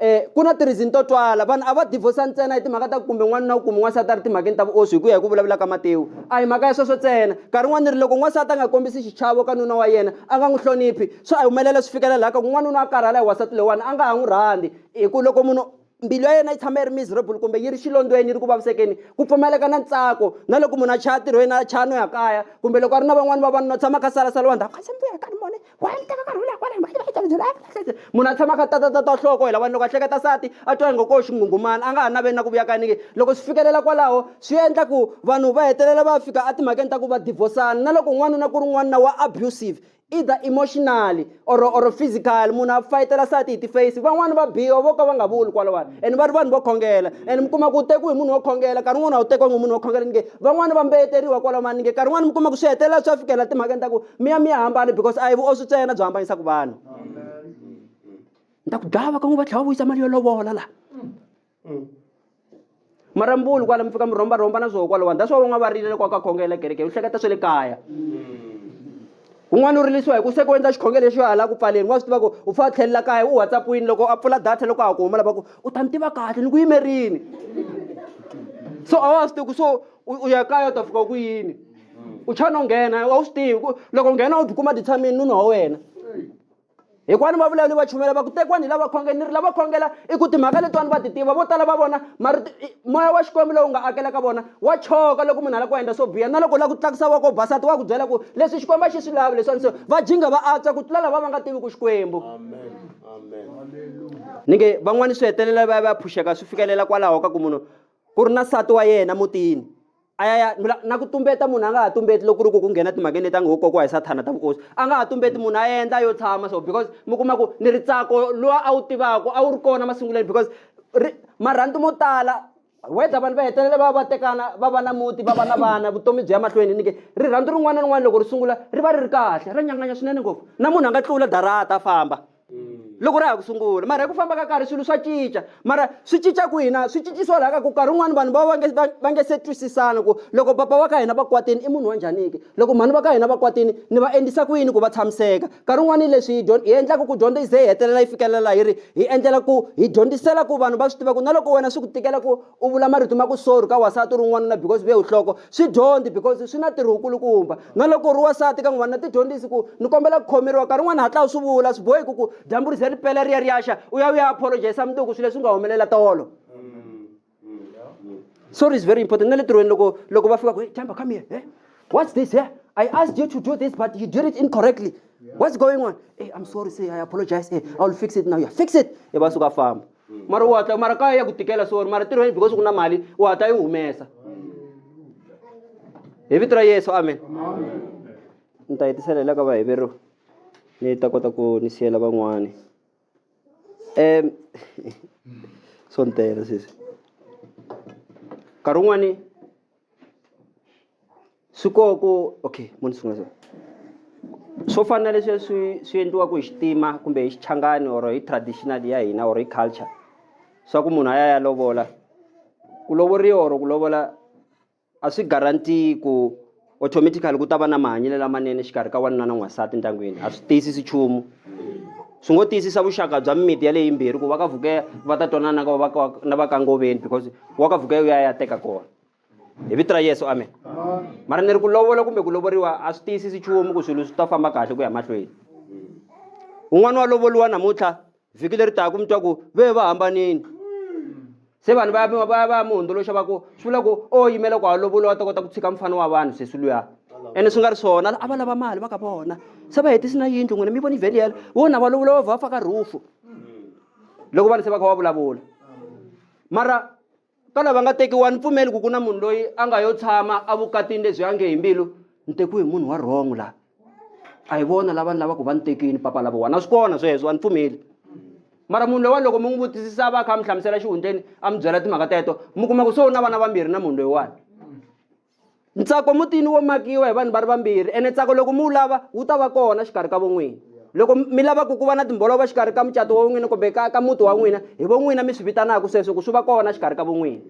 eh ku na tirizini to twala vanhu a va divorsa ntsena hi timhaka ta ku kumbe n'wanuna wu kume n'wansati a ri timhakeni ta vuoswi hi ku ya hi ku vulavula ka matewu a hi mhaka ya sweswo ntsena nkarhi wun'wana ri loko n'wansati a nga kombisi xichavo ka nuna wa yena a nga n'wi hloniphi swa a humelela swi fikela laha ka ku n'wanuna a karhala hi wansati lowani a nga ha n'wi rhandzi hi ku loko munhu mbilu ya yena yi tshama yi ri miserable kumbe yi ri xilondweni yi ri ku vavisekeni ku pfumaleka na ntsako na loko munhu a chaya tirhweni a chaya no ya kaya kumbe loko a ri na van'wani vavanuna tshama kha salasaliwa ndzhaku kasi mbuya kani mone wa ni teka karhi wu lakwalani munhu a tshama kha tatatata nhloko hi lavani loko a hleketa sati a twa ingo ko xinghunghumana a nga ha naveli na ku vuya kanike loko swi fikelela kwalaho swi endla ku vanhu va hetelela va fika etimhakeni ta ku va divosana na loko n'wanuna ku ri n'wanuna wa abusive either emotionally or or physical munhu a fayitela sati hi tiface van'wani va biwa vo ka va nga vuli kwalawani and va ri vanhu vo khongela and mi kuma ku tekiwe hi munhu wo khongela nkarhi wun'wana a wu tekiwangi munhu wo khongela ni nge van'wani va mbeyeteriwa kwalaho mani ni nge nkarhi wun'wana mi kuma ku swi hetelela swi ya fikela timhakeni ta ku mi ya mi ya hambana because a hi vuoswi tsena byi hambanyisaku vanhu ni ta ku dlava ka n'wi va tlhela va vuyisa mali yo lovola laha mm. marambulu kwala mi fika mi rhomba rhomba na swo kwala wani that's why van'wana va rile kwa ka khongela kereke u hleketa swa le kaya un'wana u rilisiwa hi ku se ku endla xikhongelo lexi yo hala ku pfaleni wa swi tiva ku u fa tlhelela kaya u whatsappwini loko a pfula data loko a ha ku huma lava ku u ta ni tiva kahle ni ku yimerini so a wa swi tivi ku so u ya kaya u ta fika ku yini u chana u nghena a wu swi tivi ku loko nghena u tikuma ti tshamini nuna wa wena hikwani vavulavuli va chumela va ku tekiwani hi lava khongela ni ri lava khongela i ku timhaka letiwani va ti tiva vo tala va vona marito moya wa xikwembu lowu nga akela ka vona wa choka loko munhu a lava ku endla swo biha na loko u lava ku tlakusa voko basati wa ku byela ku leswi xikwembu a xi swi lavi leswiwani so va jinga va antswa ku tlula lava va nga tivi ku xikwembu ni nge van'wani swi hetelela va ya va ya phuxeka swi fikelela kwalaho ka ku munhu ku ri na nsati wa yena mutini a ya ya na ku tumbeta munhu a nga ha tumbeti loko ku ri ku ku nghena timhakeni leti a ngo kokiwa hi sathana ta vukosi a nga ha tumbeti munhu a endla yo tshama so because mi kuma ku ni ri tsako lowa a wu tivaka a wu ri kona masunguleni because ri marhandu mo tala whether vanhu va hetelela va va tekana va va na muti va va na vana vutomi byi ya mahlweni nike rirhandzu rin'wana na rin'wana loko ri sungula ri va ri ri kahle ra nyanganya swinene ngopfu na munhu a nga tlula darata a famba mm. loko ra ha ku sungula mara hi ku famba ka karhi swilo swa cinca mara swi cinca ku hina swi cincisiwa laha ka ku karhi un'wana vanhu va va nge se twisisana ku loko papa wa ka hina va kwatini i munhu wa njhaniki loko mhani va ka hina va kwatini ni va endlisa ku yini ku va tshamiseka nkarhi un'wana yi leswi hi endlaka ku dyondzo yi ze yi hetelela yi fikelela yi ri hi endlela ku hi dyondzisela ku vanhu va swi tiva ku na loko wena swi ku tikela ku u vula marito ma ku sorry ka wasati u ri n'wanuna because ve uhloko swi dyondi because swi na tirho wukulukumba na loko u ri wasati ka n'wanuna ti dyondzisi ku ni kombela ku khomeriwa nkarhi un'wana hatla u swi vula swi bohi ku ku dyambu ri ze ri pela ri ya ri yaxa u ya u ya apologisa mundzuku swilo leswi nga humelela tolo sorry is very important na le tirhweni loko loko va fika ku jamba come here eh? what's this here i asked you to do this but you did it incorrectly what's going on hey, eh, i'm sorry say i apologize hey, eh, i will fix it now yeah, fix it e va suka famba mm. mara u hatla mara kaya ya ku tikela so mara tirhweni because ku na mali u hatla yi humesa hi vito ra yesu amen ni ta hetisela la ka vaheveriwa ni ta kota ku ni siyela van'wani um so ni tela sesi nkarhi wun'wani swi koho ku okay mo ni sungula swo fana na leswi swi swi endliwaka hi xitima kumbe hi xichangani or hi traditional ya hina or hi culture swa ku munhu a ya ya lovola ku lovoriwa or ku lovola a swi guarantee ku automatically ku ta va na mahanyelo lamanene xikarhi ka wanuna na n'wansati endyangwini a swi tiyisisi nchumu. swi ngo tiyisisa vuxaka bya mimiti yaleyi yimbirhi ku va ka vukeya va ta twanana na va ka na va ka ngoveni because wa ka vukeya u ya ya teka kona hi vito ra yesu amen mara ni ri ku lovola kumbe ku lovoriwa a swi tiyisisi chumu ku swilo swi ta famba kahle ku ya mahlweni un'wana wa lovoliwa namuntlha vhiki leri taka mi twa ku ve va hambanini se vanhu va va va va mi hundzuluxa va ku swi vula ku o yimela ku halovola wa ta kota ku tshika mufana wa vanhu sesi luya ene swi nga ri swona a va lava mali va ka vona se va hetisi na yindlu n'wina mi voni vheli yelo wo na valovola va va faka rhufu loko vanhu se va kha va vulavula mara ka lava nga tekiwa ni pfumeli ku ku na munhu loyi a nga yo tshama a vukatini lebyi a nge hi mbilu ni tekiwe hi munhu wa wrong laha a hi vona lava ni lavaka va ni tekini papa lavo wana swi kona sweswo a ni pfumeli mara munhu loyiwani loko mi n'wi vutisisa a va a kha a mi hlamusela xihundleni a mi byela timhaka teto mi kuma ku se u na vana vambirhi na munhu loyiwani ntsako mutini wo makiwa hi vanhu va ri vambirhi ene ntsako loko mi wu lava wu ta va kona xikarhi ka von'wini loko mi lava ku ku va na timbolova xikarhi ka mucato wa n'wina kumbe ka ka muti wa n'wina hi von'wina mi swi vitanaka sweswo ku swi va kona xikarhi ka von'wini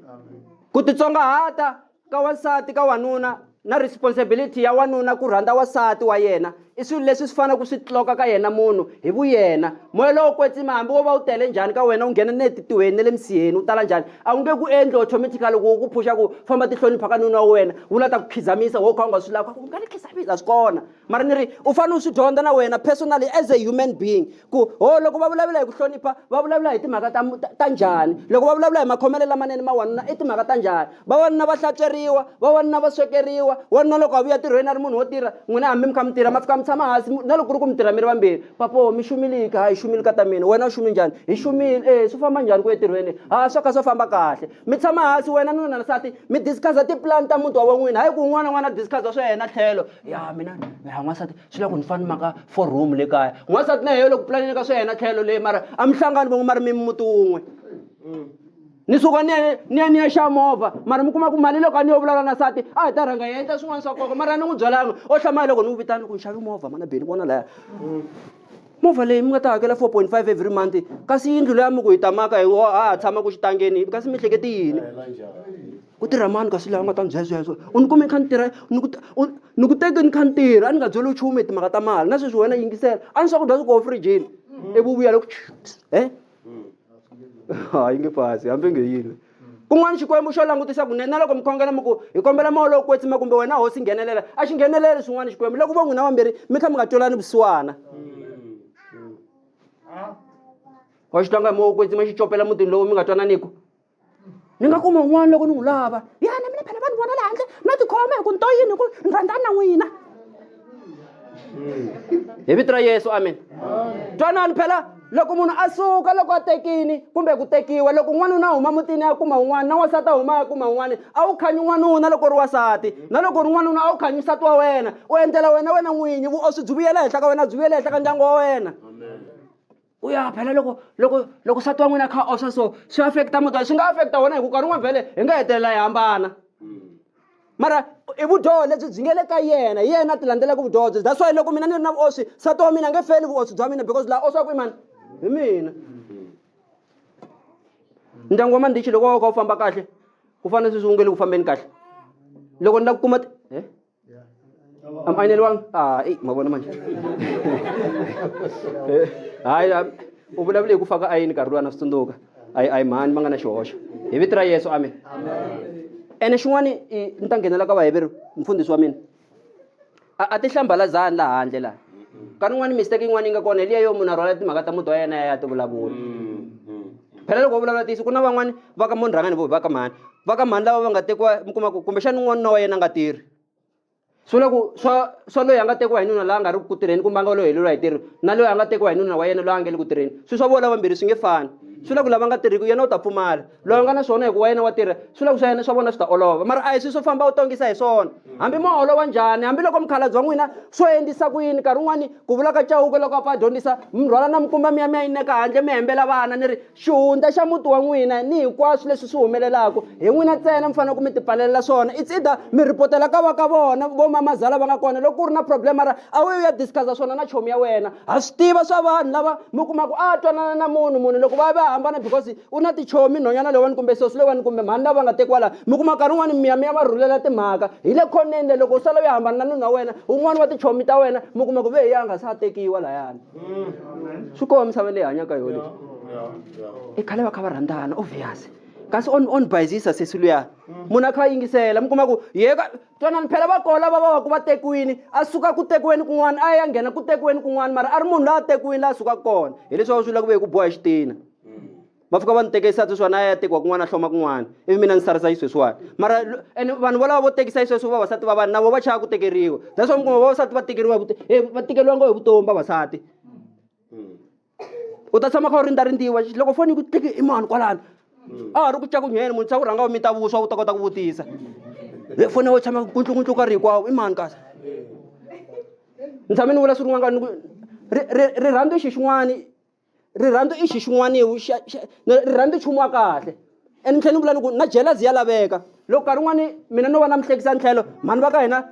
ku titsongahata ka wansati ka wanuna na responsibility ya wanuna ku rhandza wasati wa yena i swilo leswi swi fanele ku swi tloka ka yena munhu hi vuyena moya lowo kwetsima hambi wo va wu tele njhani ka wena wu nghena ni le titihweni ne le misiheni wu tala njhani a wu nge ku endli automatically loko wu ku phuxa ku famba tihlonipha ka nuna wa wena wu la ta ku khizamisa wo kha u nga swi lava ku nga ni khizamisa swi kona mara ni ri u fanele u swi dyondza na wena personally as a human being ku ho loko va vulavula hi ku hlonipha va vulavula hi timhaka ta ta njhani loko va vulavula hi makhomelo lamanene ma wanuna i timhaka ta njhani vawanuna va hlantsweriwa vawanuna va swekeriwa wanuna loko a vuya tirhweni a ri munhu wo tirha n'wina hambi mi kha mi tirha ma fika mi tshama hansi na loko ku ri ku mi tirha mi ri vambirhi papo mi xumiliki ha hi xumile ka ta mina wena u xumi njhani hi xumile e swi famba njhani ku etirhweni ha swo kha swo famba kahle mi tshama hansi wena nuna na nsati mi discuss-a tipulani ta muti wa van'wina hayi ku un'wana na un'wana a discuss-a swa yena tlhelo ya mina ya n'wansati swi la ku ni fana ni maka four room le kaya n'wansati na yeyo loko pulanini ka swa yena tlhelo leyi mara a mi hlangani van'we mara mi muti wun'we ni suka ni ya ni ya ni ya xa movha mara mi kuma ku mali loko a ni yo vulavula na sati a hi ta rhanga hi endla swin'wana swa nkoka mara ni n'wi byelanga o hlamaya loko ni n'wi vitana loko ni xavi movha mana beni vona laya movha leyi mi nga ta hakela four point five every month kasi yindlu leya mi ku hi tamaka hi a ha tshama ku xitangeni kasi mi hleketi yini ku tirha mani kasi laha u nga ta ni byela sweswo u ni kume ni kha ni tirha ni ku u ni ku teke ni kha ni tirha a ni nga byeli nchumu hi timhaka ta mali na sweswi wena yingisela a ni swakudya swi koho frijini ivi u vuya loko e ha yi nge fasi hambi nge yini kun'wana xikwembu xo langutisa kunene na loko mi khongela mi ku hi kombela moya lowo kwetsima kumbe wena hosi nghenelela a xi ngheneleli swin'wana xikwembu loko vo n'wina vambirhi mi kha mi nga twelani vusiwana wa xi tlanga hi moya wo kwetsima xi copela mutini lowu mi nga twananiku ni nga kuma un'wana loko ni n'wi lava ya na mina phela va ni vona le handle no tikhoma hi ku ni to yini hi ku ni rhandzani na n'wina hi vito ra yesu amen twanani phela loko munhu a suka loko a tekini kumbe ku tekiwa loko n'wanuna a huma mutini a kuma un'wana na wansati a huma a kuma un'wana a wu khanyi n'wanuna loko ri wasati na loko ri n'wanuna a wu khanyi nsati wa wena u endlela wena wena n'winyi vuoswi byi vuyela henhla ka wena byi vuyela henhla ka ndyangu wa wena u ya phela loko loko loko nsati wa n'wina a kha oxa so swi affect-a muti swi nga affect-a wona hi ku nkarhi wun'wana vhele hi nga hetelela hi hambana mara i vudyoho lebyi byi nge le ka yena hi yena a ti landzelaka vudyoho byi that's why loko mina ni ri na vuoswi nsati wa mina a nge feli vuoswi bya mina because laha oswaku i mani hi mina ndyangu wa mandichi loko wa kha wu famba kahle ku fana sweswi wu nge le ku fambeni kahle loko ni lava ku kuma Yeah. Am I nilwang? Ah, eh, mawa naman. Eh, Ay, ah, u vulavule hi ku faka ayini nkarhi luwa na swi tsundzuka ayi ayi mhani va nga na xihoxo hi vito ra yesu amen ene xin'wana i- ni ta nghenela ka vaheveri mfundhisi wa mina a a ti hlambalazani laha handle laha nkarhi wun'wani mistake yin'wana yi nga kona hi liya yo munhu a rhwala timhaka ta muti wa yena ya ya ti vulavula phela loko va vulavula ntiyiso ku na van'wani va ka mo ni rhanga ni vo va ka mhani va ka mhani lava va nga tekiwa mi kuma ku kumbexani n'wana na wa yena a nga tirhi swi vula ku swa swa loyi a nga tekiwa hi nuna la a nga ri ku tirheni kumbe a nga loyi heleriwa hi tirho na loyi a nga tekiwa hi nuna wa yena loyi a nga le ku tirheni swi swa vola vambirhi swi nge fani swi vula ku lava nga tirhiki yena u ta pfumala loyi a nga na swona hikuva yena wa tirha swi vula ku swa yena swa vona swi ta olova mara a hi swi swo famba u tongisa hi swona hambi mo olova njhani hambiloko mukhalabye wa n'wina swo endlisa ku yini nkarhi wun'wani ku vula ka chauke loko a pfa a dyondzisa mi rhwala na mikumba mi ya mi ya yineka handle mi hembela vana ni ri xihundla xa muti wa n'wina ni hinkwaswo leswi swi humelelaka hi n'wina ntsena mi fanele ku mi tipfalelela swona it's either mi rhipotela ka va ka vona vo mamazala va nga kona loko ku ri na problem ra a wu ya discuss-a swona na chomi ya wena ha swi tiva swa vanhu lava mi kumaka a twanana na munhu munhu loko va ya va ya hambana because u na tichomi nhonyana leyiwani kumbe sosi leyiwani kumbe mhani lava nga tekiwa laha mi kuma nkarhi wun'wani miya mi ya va rhulela timhaka hi le khoneni le loko u sala u ya hambana na nuna wa wena un'wana wa tichomi ta wena mi kuma ku ve hi ya nga se a tekiwa layani swi kona misava leyi hanyaka yoho lexi i khale va kha va rhandzana obvious kasi on on bayizisa sesi luya munhu a kha a yingisela mi kuma ku yeka twanani phela va kola va va va ku va tekiwini a suka ku tekiweni kun'wana a ya nghena ku tekiweni kun'wana mara a ri munhu la a tekiwini la a sukaka kona hileswi va swi vula ku ve hi ku boha xitina va fika va ni tekisa sweswiwani a ya tekiwa kun'wana a hloma kun'wana ivi mina ni sarisa yi sweswiwani mara ene vanhu volava vo tekisa yi sweswi vavasati va vanhu na vo va chava ku tekeriwa that's why mi kuma vavasati va tekeriwa hi va tekeriwa ngo hi vutomi vavasati u ta tshama kha u rindza rindziwa loko foni yi ku tiki i mani kwalano a ha ri ku cakunyeni munhu se u rhanga u mita vuswa u ta kota ku vutisa le foni wo tshama kuntlunguntlu ka ri hinkwawo i mani kasi ni tshame ni vula swi rin'wana rirhandzu i xi xin'wani rirhandzu i xi xin'waniwu rirhandzu nchumu wa kahle and ni tlhela ni vula ni ku na jealousy ya laveka loko nkarhi wun'wani mina no va na mihlekisa ntlhelo mhani va ka hina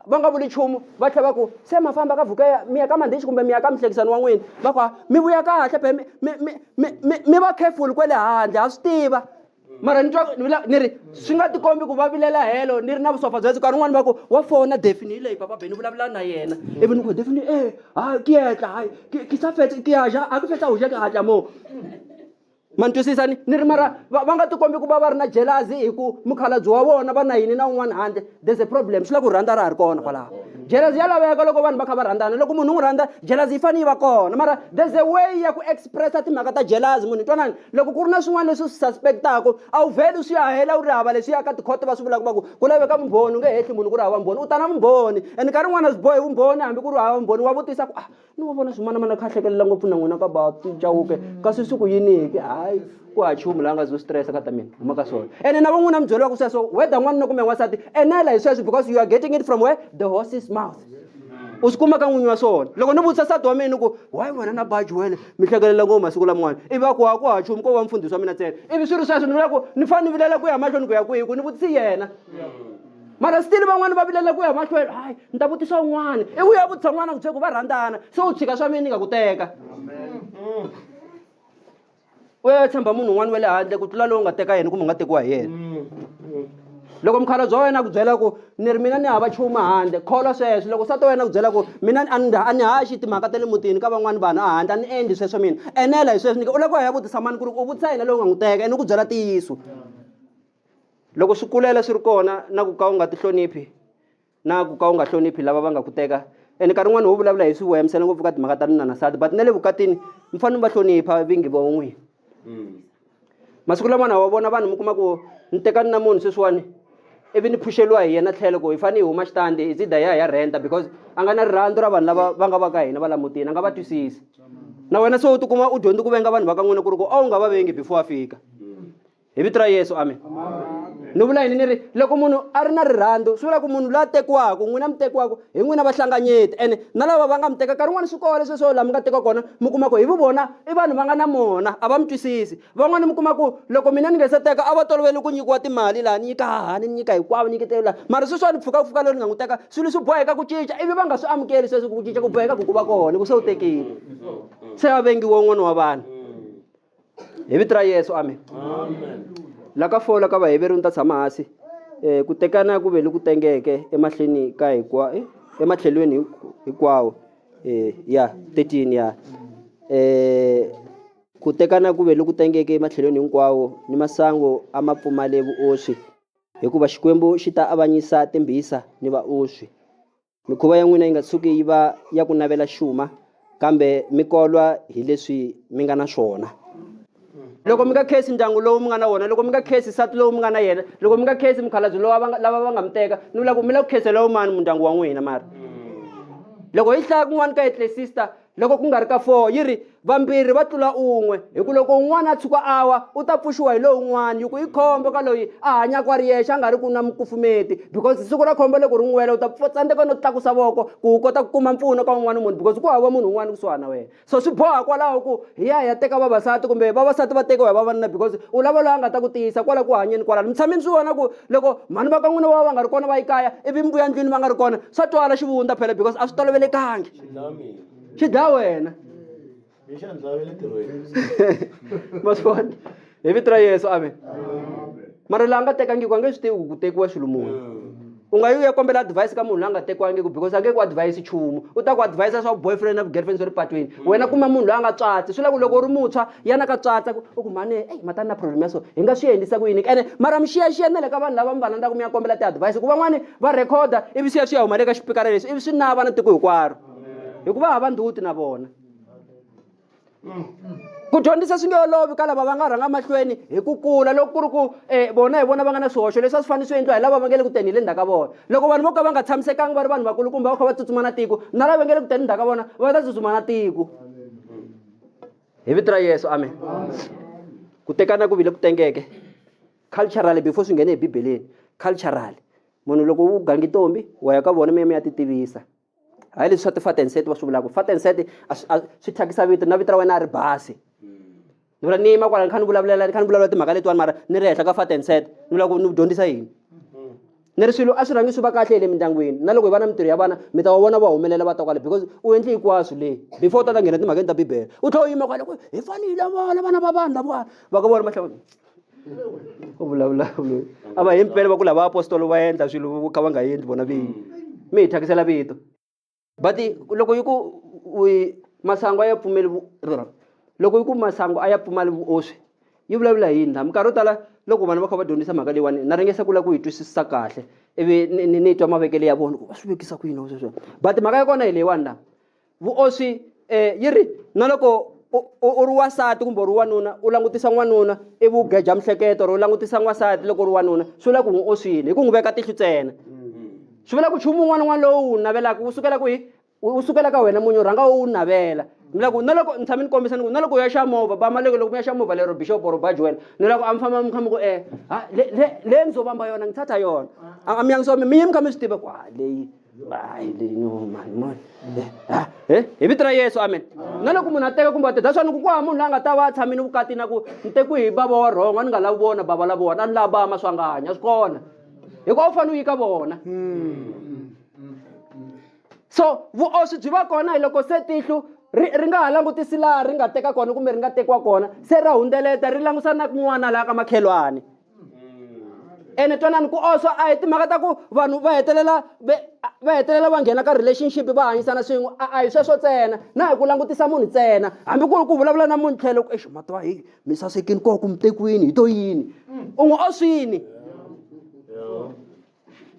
va nga vuli nchumu va tlhela va ku se ma famba ka vhukeya mi ya ka mandhichi kumbe mi ya ka mihlekisani wa n'wina va ku mi vuya kahle be mi mi mi mi mi va careful kwale handle ha swi tiva mara ni twa ni la- ni ri swi nga tikombi ku va vilela helo ni ri na vusopfa bya nkarhi un'wana va ku wa fona defini hi leyi papa beni vulavula na yena ivi ni ku defini e hayi ki yetla hayi ki- ki sa fetse ki ya ja a ku fetsa u ja ki hatla moo ma ni twisisa ni ni ri mara va va nga tikombi ku va va ri na jelazi hi ku mukhalabye wa vona va na yini na un'wana handle there's a problem swi la ku rhandza ra ha ri kona kwalaho jealousy ya laveka loko vanhu va kha va rhandzana loko munhu u n'wi rhandza jealousy yi fanele yi va kona mara there's a way ya ku expressa timhaka ta jealousy munhu twanani loko ku ri na swin'wana leswi swi suspectaka a wu vheli swi ya hela u ri hava leswi ya ka tikhoto va swi vulaka va ku ku laveka vumbhoni u nge hehli munhu ku ri hava vumbhoni u ta na vumbhoni and nkarhi wun'wana a swi bohi vumbhoni hambi ku ri hava vumbhoni wa vutisa ku ah ni wa vona swin'wana mana kha hlekelela ngopfu na n'wina ka ba cawuke kasi swi ku yiniki hayi ku ha chumu la nga zo stress ka ta mina huma ka swona ene na van'wina mi byeriwa ku sweswo whether n'wanuna kumbe n'wansati enela hi sweswo because you are getting it from where the horse's mouth u swi kuma ka n'winyi wa swona loko ni vutisa sati wa mina ni ku why wena na baji wena mi hlekelela ngopfu masiku laman'wana ivi a ku ha ku ha chumu ko va mfundhisi wa mina ntsena ivi swi ri sweswo ni vula ku ni fanele ni vilela ku ya mahlweni ku ya kwihi ku ni vutisi yena mara stili van'wani va vilela ku ya mahlweni hayi ni ta vutisa un'wana i ku ya vutisa n'wana ku bye ku va rhandzana se u tshika swa mina ni nga ku teka u ya tshemba munhu un'wana wa le handle ku tlula lowu nga teka yena kumbe u nga tekiwa hi yena loko mukhalabye wa wena a ku byela ku ni ri mina ni hava chuma handle kholwa sweswo loko nsati wa wena a ku byela ku mina a ni a ni haxi timhaka ta le mutini ka van'wani vanhu a handle a ni endli sweswo mina enela hi sweswo ni u lava ku ya vutisa mani ku ri u vutisa yena lowu nga n'wi teka ene u ku byela ntiyiso loko swi kulela swi ri kona na ku ka u nga tihloniphi na ku ka u nga hloniphi lava va nga ku teka ene nkarhi wun'wani wo vulavula hi swi wemsela ngopfu ka timhaka ta nuna na sati but na le vukatini mi fanele mi va hlonipha vingi vo n'wini mm. masiku lamana wa vona vanhu mi kuma ku ni tekani na munhu sweswiwani ivi ni phuxeliwa hi yena tlhelo ku hi fanele hi huma xitandi hi zida ya hi ya renta because a nga na rirhandzu ra vanhu lava va nga va ka hina va lamutini a nga va twisisi na wena se u tikuma u dyondzi ku venga vanhu va ka n'wina ku ri ku a wu nga va vengi before a fika hi vito ra yesu amen ni vula yini ni ri loko munhu a ri na rirhandzu swi vula ku munhu loyi a tekiwaka n'wina mi tekiwaka hi n'wina vahlanganyeti ene na lava va nga mi teka nkarhi wun'wana swi kole sweswo laha mi nga teka kona mi kuma ku hi vu vona i vanhu va nga na mona a va mi twisisi van'wana mi kuma ku loko mina ni nge se teka a va tolovele ku nyikiwa timali laha ni nyika hahani ni nyika hinkwavo nyiketelo laha mara sweswo a ni pfuka ku fika loyi ni nga n'wi teka swilo swi boheka ku cinca ivi va nga swi amukeli sweswo ku cinca ku boheka ku ku va kona ku se u tekile se a vengiwe un'wana wa vanhu hi vito ra yesu amen la ka fola ka vaheveri ni ta tshama hansi um ku tekana ku ve loku tengeke emahlweni ka hikwa eh, ematlhelweni hik- hinkwawo um ya 13 ya um ku tekana ku ve loku tengeke ematlhelweni hinkwawo ni masangu a ma pfumale vuoswi hikuva xikwembu xi ta avanyisa timbhisa ni vaoswi Mikhuva ya n'wina yi nga tshuki yi va ya ku navela xuma, kambe mi kolwa hi leswi mi nga na swona. Loko mi nga khensi ndyangu lowu mi nga na wona, loko mi nga khensi nsati lowu mi nga na yena, loko mi nga khensi mukhalabye lowa va nga, lava va nga mi teka, ni vula ku mi lava ku khenseriwa hi mani mundyangu wa n'wina? Mara loko hi hlaya kun'wana ka Eklesista, loko ku nga ri ka four yi ri vambirhi va tlula un'we hi ku loko un'wana a tshuka a wa u ta pfuxiwa hi lowun'wana yi ku i khombo ka loyi a hanyaka a ri yexe a nga ri ku na mukufumeti because siku ra khombo loko ri n'wi wela u ta tsandzeka no tlakusa voko ku u kota ku kuma mpfuno ka un'wana munhu because ku hava munhu un'wana kusuhana na wena so swi boha kwalaho ku hi ya hi ya teka vavasati kumbe vavasati va tekiwa hi vavanuna because u lava loyi a nga ta ku tiyisa kwala ku hanyeni kwalano mi tshame mi swi vona ku loko mhani va ka n'wina va va va nga ri kona va yi kaya ivi mbuya ndlwini va nga ri kona swa twala xivundza phela because a swi tolovelekangi xi dlaya wena ma swi vona hi vito ra yesu amen mara laha nga tekangiku a nge swi tivi ku ku tekiwa xilo muni u nga yi u ya kombela advice ka munhu la nga tekiwangiku because a nge ku advice nchumu u ta ku advise swa boyfriend na girlfriend swa le patwini wena kuma munhu loyi a nga tswatsi swi la ku loko u ri muntshwa yana ka tswatsa ku u ku mhani eyi matani na problem ya so hi nga swi endlisa ku yini ene mara mi xiyaxiya na le ka vanhu lava mi va landzaka mi ya kombela ti-advice ku van'wani va rhekhoda ivi swi ya swi ya huma le ka xipikara lexi ivi swi nava na tiko hinkwaro hikuva hava ndhuti na vona ku dyondzisa swi nge olovi ka lava va nga rhanga mahlweni hi ku kula loko ku ri ku um vona hi vona va nga na swihoxo leswi a swi fanele swi endliwa hi lava va nge le ku teni hi le ndzhaku ka vona loko vanhu vo ka va nga tshamisekanga va ri vanhu vakulu kumbe va kha va tsutsuma na tiko na lava nge le ku teni ndzhaku ka vona va ta tsutsuma na tiko hi vito ra yesu amen ku tekana ku vile ku tengeke Culturally before swi nghene ebibeleni culturally munhu loko u gangi ntombi wa ya ka vona mi ya mi ya ti tivisa hayi leswi swa ti-fat and set va swi vulaka fat and set swi thyakisa vito na vito ra wena a ri basi ni vula ni yima kwala ni kha ni vulavulela ni kha ni vulavula timhaka letiwani mara ni ri henhla ka fat and set ni vula ku ni ku dyondzisa yini ni ri swilo a swi rhangi swi va kahle hi le mindyangwini na loko hi va na mintirho ya vana mi ta va vona va humelela va ta kwale because u endle hinkwaswo leyi before u ta ta nghena timhakeni ta bibele u tlhela u yima kwale ku hi fanele hi lavola vana va vanhu lavawa va ka vona mahlava u vulavula loyi a va himpela va ku lava apostolo va endla swilo vo ka va nga endli vona vinyi mi hi thyakisela vito but loko yi ku masangu a ya pfumeli loko yi ku masangu a ya pfumali vuoswi yi vulavula hi yini la minkarhi yo tala loko vanhu va kha va dyondzisa mhaka leyiwani na ringesa ku lava ku yi twisisisa kahle ivi ni ni twa mavekelo ya vona ku va swi vekisa ku yini wa sweswo but mhaka ya kona hi leyiwani la vuoswi um eh, yi ri na loko u ri wasati kumbe u ri wanuna u langutisa n'wanuna ivi u geja mihleketo or u langutisa n'wasati loko u ri wanuna swi vula ku n'wi oswile hi ku n'wi veka tihlo ntsena swi vula ku nchumu un'wana un'wana lowu wu navelaka wu sukela kwihi wu sukela ka wena munyu rhanga wu navela ni loko na loko ni tshame ni kombisa ni ku na loko u ya xa movha ba maleke loko mi ya xa movha lero bishop or ba joel ni loko a mi famba mi kha mi ku e ha le le le ni zo vamba yona ni thatha yona a mi yangisiwa mi mi mi kha mi swi tiva ku ha leyi hayi leyi no mani mani ha he hi vito ra yesu amen na loko munhu a teka kumbe a teta swani ku ku ha munhu la nga ta va a tshamini vukati na ku ni tekiwi hi bava wa rhonga ni nga lavi vona bava lavowa na ni lava bama swanganya swi kona hikuva u fanele u yi ka vona so vuoswi byi va kona hi loko se tihlo ri ri nga ha langutisi laha ri nga teka kona kumbe ri nga tekiwa kona se ra hundzeleta ri langusa na kun'wana laha ka makhelwani ene twanani ku oswa a hi timhaka ta ku vanhu va hetelela va va hetelela va nghena ka relationship va hanyisana swin'we a a hi sweswo ntsena na hi ku langutisa munhu ntsena hambi ku ri ku vulavula na munhu tlhelo ku exi matiwa heyi. mi sasekini ko ku mi tekiwini hi to yini mm. u n'wi oswini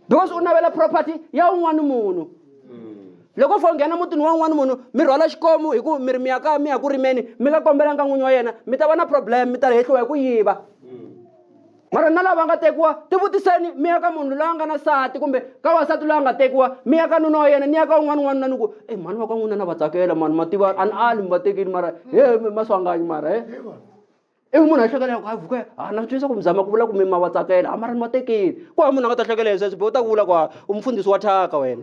because u navela property ya un'wana munhu mm. loko u fo nghena mutini wa un'wana munhu mi rhwala xikomu hi ku mi ri mi ya ka mi ya ku rimeni mi nga kombelanga n'winyi wa yena mi ta va na problem mi ta hehliwa hi ku yiva mm. mara na lava nga tekiwa tivutiseni mi ya ka munhu loyi a nga na sati kumbe ka wasati loyi a nga tekiwa mi ya ka nuna wa yena ni ya ka un'wana un'wana na ni ku e mhani va ka n'wina na va tsakela mhani ma tiva a ni ali mi va tekini mara he maswanganyi mara he ivi munhu a hlekela ku a vuke a na twisa ku mi zama ku vula ku mi ma va tsakela a mara ni va tekini ku hava munhu a nga ta hlekela hi sweswo be u ta ku vula ku u mufundhisi wa thyaka wena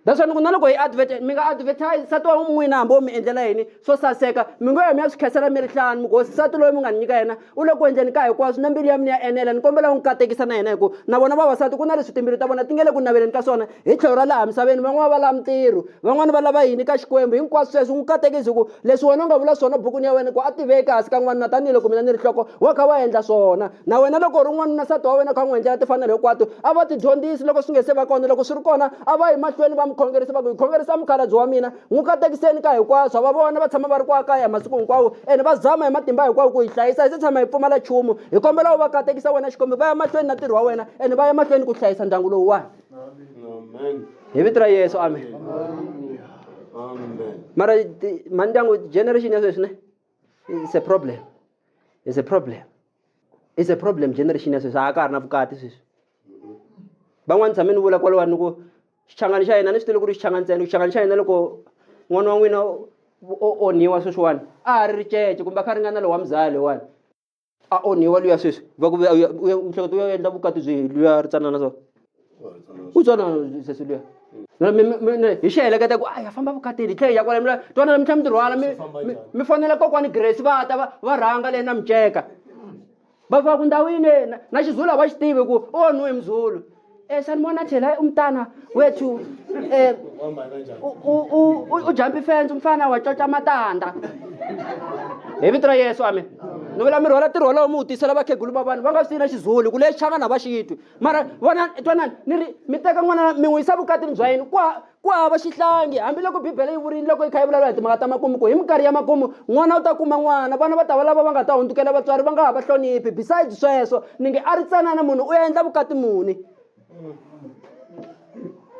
that's why ni ku na loko hi advert mi nga advertise sati wa n'wina hambi wo mi endlela yini swo saseka mi ngo ya mi ya swi khensela mi ri hlanu mi ku hosi sati loyi mi nga ni nyika yena u le ku endleni ka hinkwaswo na mbilu ya mina ya enela ni kombela u n'wi katekisa na yena hi ku na vona vavasati ku na leswi timbilu ta vona ti nge le ku naveleni ka swona hi tlhelo ra laha misaveni van'wana va lava mintirho van'wana va lava yini ka xikwembu hinkwaswo sweswo n'wi katekisi hi ku leswi wena u nga vula swona bukwini ya wena ku a tiveki hansi ka n'wanuna tanihiloko mina ni ri nhloko wa kha wa endla swona na wena loko u ri n'wanuna nsati wa wena kha u n'wi endlela tifanelo hinkwato a va tidyondzisi loko swi nge se va kona loko swi ri kona a va yi mahlweni va mi khongerisa va ku hi khongerisa mukhalabye wa mina n'wi katekiseni ka hinkwaswo va vona va tshama va ri kwa kaya masiku hinkwawo ene va zama hi matimba hinkwawo ku yi hlayisa hi se tshama hi pfumala nchumu hi kombela u va katekisa wena xikombiso va ya mahlweni na ntirho wa wena ene va ya mahlweni ku hlayisa ndyangu lowuwani Amen. hi vito ra yesu amen Amen. mara ti- mandyangu generation ya sweswi ne it's a problem it's a problem it's a problem generation ya sweswi a ka ha ri na vukati sweswi van'wani tshame ni vula kwalowani ni ku xichangani xa hina ni swi tive ku ri xichangani ntsena xichangani xa hina loko n'wana wa n'wina o onhiwa sweswiwani a ha ri ricece kumbe a kha ri nga na lowa muzali wani a onhiwa luya sweswi va ku vuya u hleketa u ya endla vukati byi luya ri tsanana so u tswana sesi luya hi xi heleketa ku a ya famba vukatini hi tlhela ya kwala mila twana mi tlhela mi tirhwala mi mi fonela kokwani grace va ta va va rhanga leyi na miceka va fika ku ndhawini na xizulu a va xi tivi ku u onhiwe hi muzulu Eh sanibona thina eh, umntana wethu eh ujump ifence umfana wacoca amatanda hi vito ra yesu amen ni vula mi rhwala ntirho wolowo mi wu tisela vakhegulu va vanhu va nga swi na xizulu ku lexi xangana va xitwi mara vona twanani ni ri mi teka n'wana mi n'wi yisa vukatini bya yini kwa Ku hava xihlangi, hambiloko Bibele yi vurile loko yi kha yi vulavula hi timhaka ta makumu ku hi minkarhi ya makumu n'wana u ta kuma n'wana, vana va ta va lava va nga ta hundzukela vatswari va nga ha va hloniphi. Besides sweswo, ni nge a ri tsanana munhu u endla vukati muni?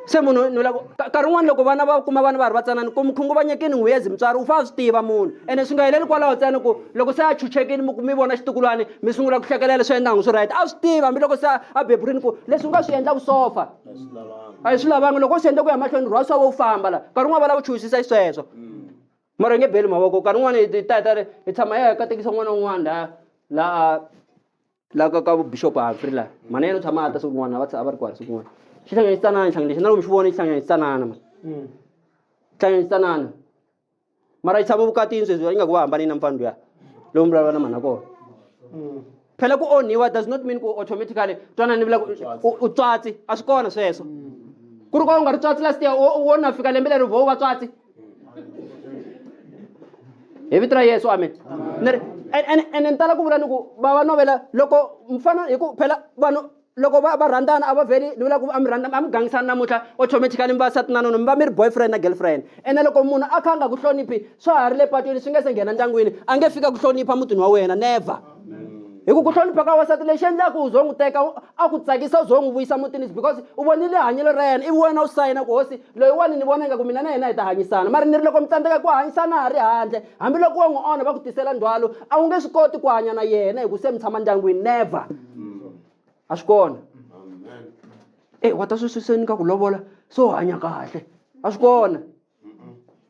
Se munhu ni lavo ka- nkarhi wun'wana loko vana va kuma vana va ha ri vatsanana ku mi khunguvanyekini n'wiyezi mutswari u fanele a swi tiva munhu ene swi nga heleli kwalaho ntsena ku loko se a chuchekile mi ku mi vona xitukulwana mi sungula ku hlekelela leswi endla ngi swi right a swi tiva hambiloko se a a beburini ku leswi u nga swi endla vusofa a hi swi lavanga loko u senda ku ya mahlweni rhwasa wo famba la nkarhi un'wana va lava chuhisisa yi sweswo mara nge beli mavoko nkarhi un'wana hi ta hi ta ri hi tshama hi ya katekisa n'wana un'wana la la la ka ka bishop Humphrey la mhana yena u tshama a ta siku n'wana va a va ri kwala siku n'wana xihlanganyisanana xihlanganisa na loko mi xi vona xihlanganyisanana ma xihlanganyisanana mara yi tshama vukatini sweswi va ingaku va hambane na mfana luya lowu mi vulavula na mhana kona mm. phela ku onhiwa does not mean ku automatically twana ni vula u tswatsi a swi kona sweswo mm. ku ri ka u nga ri tswatsi last year wo na fika lembe leri vo va tswatsi hi vito ra yesu amen ni ri ene ni tala ku vula ni ku va va novela loko mfana hi ku phela vanhu loko va va rhandzana a va vheli ni vula ku a mi rhandza a mi gangisani namuntlha automatically mi va sati na nuna mi va mi ri boyfriend na girlfriend ene loko munhu a kha a nga ku hloniphi swa ha ri le patwini swi nge se nghena ndyangwini a nge fika ku hlonipha mutini wa wena never hi ku ku hlonipha ka wasati lexi endlaku u zo n'wi teka a ku tsakisa u zo n'wi vuyisa mutini is because u vonile hanyelo ra yena ivi wena u sayina ku hosi loyiwani ni vona ingaku mina na yena hi ta hanyisana mara ni ri loko mi tsandzeka ku hanyisana ha ri handle hambiloko wo n'wi onha va ku tisela ndzhwalo a wu nge swi koti ku hanya na yena hi ku se mi tshama ndyangwini never a swi kona e wa ta swi swiseni ka ku lovola se u hanya kahle a swi kona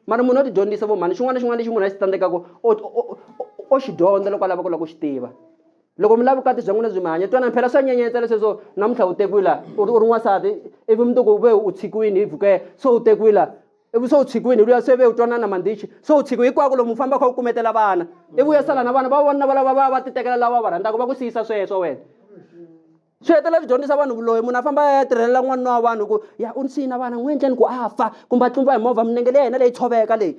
mara munhu o ti dyondzisa vo mhani xin'wana na xin'wana lexi munhu a xi tsandzekaka o xi dyondza loko a lava ku lava ku xi tiva loko mi lava vukati bya n'wina byi mi hanya twanani phela swa nyenyetsa lesweswo namuntlha u tekiwila u ri u ri n'wansati ivi mundzuku u ve u tshikiwini hi vukela so u tekiwila ivi se u tshikiwini hi luya se ve u twanana mandichi se u tshikiwi hikwako lomu famba kha u kumetela vana ivi u ya sala na vana va vona valava va va titekela lava va rhandzaka va ku siyisa sweswo wena swi hetelela swi dyondzisa vanhu vuloyi munhu a famba a ya tirhelela n'wanuna wa vanhu ku ya u ni siyina vana n'wi endleni ku a fa kumbe a tlumba hi movha minenge leyi yena leyi tshoveka leyi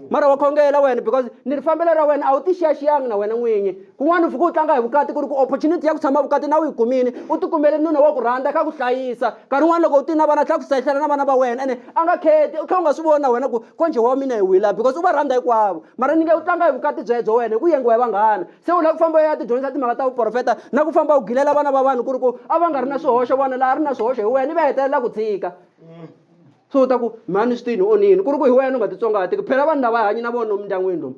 mara wa khongela wena because ni ri fambelo ra wena a wu tixiyaxiyanga na wena n'winyi kun'wana u fike u tlanga hi vukati ku ri ku opportunity ya ku tshama vukati na u yi kumile u ti kumele nuna wa ku rhandza ka ku hlayisa nkarhi wun'wana loko u ti na vana tlhela ku hlayisela na vana va wena ene a nga kheti u tlhela u nga swi voni na wena ku konje wa mina hi wila because u va rhandza hinkwavo mara ni nge u tlanga hi vukati byebyo wena hi ku yengiwa hi vanghana se u lava ku famba u ya tidyondzisa timhaka ta vuprofeta na ku famba u gilela vana va vanhu ku ri ku a va nga ri na swihoxo vona laha ri na swihoxo hi wena i va hetelela ku tshika mm. so u ta ku mhani swi tini onini ku ri ku hi wena u nga titsongahatiki phela vanhu lava hanyi na vona lomu mindyangwini lomu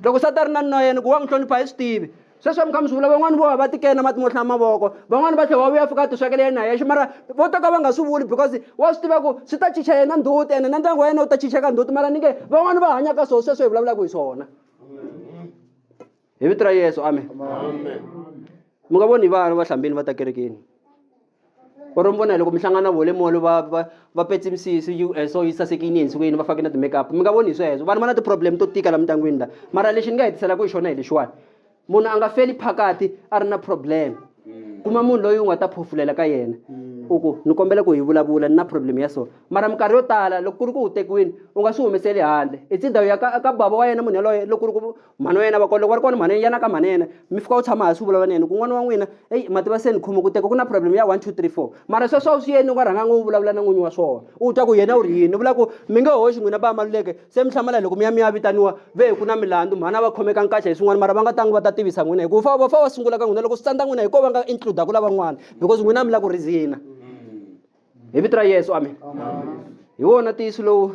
loko sati a ri na nuna yena ku wa n'wi hlonipha hi swi tivi sweswi mi kha mi swi vula van'wani vo va va tikena mati mo hlaya mavoko van'wani va tlhela wa vuya fika a tiswekela yena yexe mara vo to ka va nga swi vuli because wa swi tiva ku swi ta chicha yena ndzhuti ene na ndyangu wa yena wu ta chicheka ndzhuti mara ni nge van'wani va hanyaka swona sweswo hi vulavulaka hi swona hi vito ra yesu amen mi nga voni vana va hlambini va ta kerekeni or mi vona hi loko mi hlangana vole molo va va va petse misisi yi eh, so yi sasekini ensukwini va fake na ti-makeup mi nga voni hi sweswo vanhu va na ti-problem to tika la mindyangwini la mara lexi ni nga hetiselaku hi xona hi lexiwani munhu a nga feli phakati a ri na problem kuma munhu loyi u nga ta phofulela ka yena u ku ni kombela ku hi vulavula ni na problem ya so mara minkarhi yo tala loko ku ri ku u tekiwini u nga swi humeseli handle i tsindawu ya ka ka bava wa yena munhu yaloye loko ku ri ku Mhani wa yena va kona loko va ri kona mhani yana ka mhani yena mi fika u tshama hansi u vulavula na yena ku n'wana wa n'wina eyi ma tiva se ni khomi ku teka ku na problem ya one two three four mara sweswo a wu swi yeni u nga rhanganga u vulavula na n'winyi wa swona u twa ku yena u ri yini ni vula ku mi nge hoxi n'wina ba maluleke se mi hlamala loko mi ya mi ya vitaniwa ve ku na milandzu mhani a va khomeka nkaxa hi swin'wana mara va nga tangi va ta tivisa n'wina hikuva fa va fa va sungula ka n'wina loko swi tsandza n'wina hi ko va nga includa ku lavan'wana because n'wina a mi la ku reason-a hi vito ra yesu amen hi wona ntiyiso lowu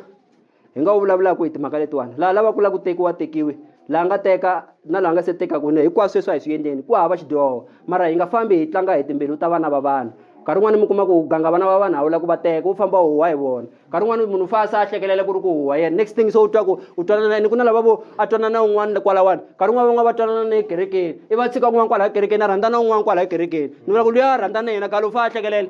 hi nga wu vulavulaka hi timhaka letiwani laha lava ku lava ku tekiwa tekiwi laha nga teka na laha nga se tekaka ne hinkwaswo sweswi a hi swi endleni ku hava xidyoho mara hi nga fambi hi tlanga hi timbilu ta vana va vanhu nkarhi wun'wani mi kuma ku ganga vana va vanhu a wu lava ku va teka wu famba huwa hi vona nkarhi wun'wani munhu fa se a hlekelela ku ri ku huwa yena next thing se u twa ku u twanana yini ku na lava vo a twanana un'wana kwalawani nkarhi wun'wani van'wana va twanana na ekerekeni i va tshika un'wana kwalaha kerekeni a rhandza na un'wana kwalaha kerekeni ni vula ku luya a rhandza na yena galo u fa a hlekelela